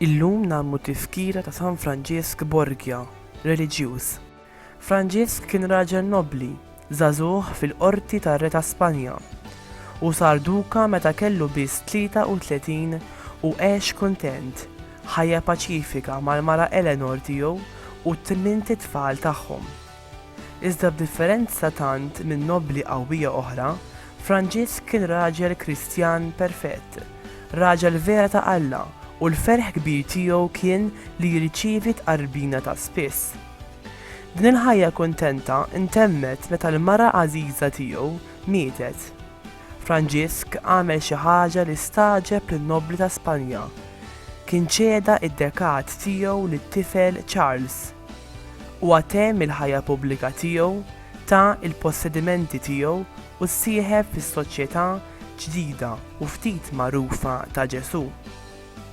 Illum nagħmlu tifkira ta' San Franġisk Borgia, reliġjuż, Franġisk kien raġel nobbli, żagħżugħ fil-qorti tar-re ta' Spanja, u sar duka meta kellu biss 33 u għex kuntent ħajja paċifika mal-mara Eleanor tiegħu u t-tmint itfal tagħhom. Iżda b'differenza tant minn nobbli qawwija oħra, Franġisk kien raġel Kristjan perfett, raġel vera ta' Alla u l-ferħ kbir tiegħu kien li jirċievi tqarrbina ta' spiss. Din il-ħajja kuntenta ntemmet meta l-mara għażiża tiegħu mietet. Franġisk għamel xi ħaġa li stagħġeb lin-nobbli ta' Spanja. Kien ċeda id-dekat tiegħu lit-tifel Charles. Huwa temm il-ħajja pubblika tiegħu, ta l-possedimenti tiegħu u ssieħeb fis-soċjetà ġdida u ftit magħrufa ta' Ġesù.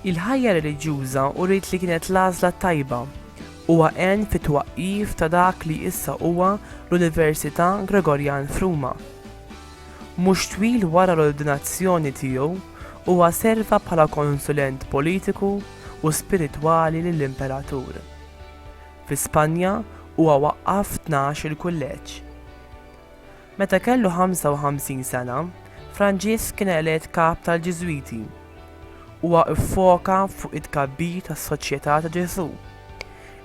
Il-ħajja reliġjuża uriet li kienet l-għażla t-tajba. Huwa għen fit-twaqqif ta' dak li issa huwa l-Università Gregorjan f'Ruma. Mhux twil wara l-ordinazzjoni tiegħu, huwa serva bħala konsulent politiku u spiritwali lill-Imperatur. Fi Spanja huwa waqqaf tnax-il kulleġġ. Meta kellu 55 sena, Franġisk kien elett Kap tal-Ġiżwiti. Huwa ffoka fuq it-tkabbir tas-Soċjetà ta' Ġesù,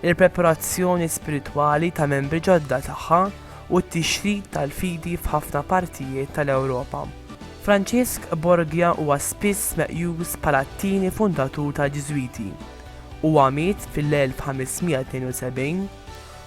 il-preparazzjoni spiritwali ta' membri ġodda tagħha u t-tixrid tal-fidi f'ħafna partijiet tal-Ewropa. Franġisk Borgia huwa spiss meqjus bħala t-tieni fundatur tal-Ġiżwiti. Huwa miet fil-1572.